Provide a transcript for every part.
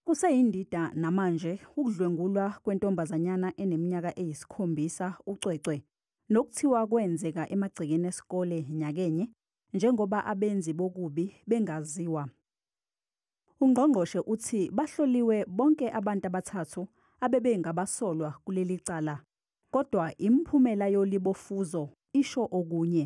Kuseyindida namanje ukudlwengulwa kwentombazanyana eneminyaka eyisikhombisa ucwecwe nokuthiwa kwenzeka emagcekeni esikole nyakenye njengoba abenzi bokubi bengaziwa. Ungqongqoshe uthi bahloliwe bonke abantu abathathu abebengabasolwa kuleli cala kodwa imiphumela yolibofuzo isho okunye.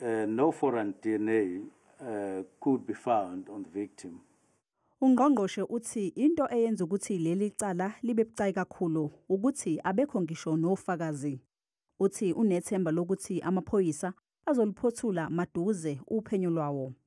Uh, no foreign DNA uh, could be found on the victim. Ungqongqoshe uthi into eyenza ukuthi leli cala libe bucayi kakhulu ukuthi abekho ngisho nofakazi. Uthi unethemba lokuthi amaphoyisa azoliphothula maduze uphenyo lwawo.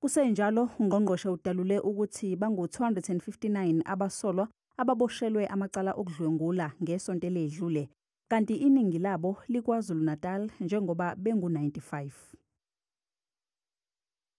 Kusenjalo, ungqongqoshe udalule ukuthi bangu-259 abasolwa ababoshelwe amacala okudlwengula ngesonto eledlule, kanti iningi labo liKwaZulu-Natal njengoba bengu-95.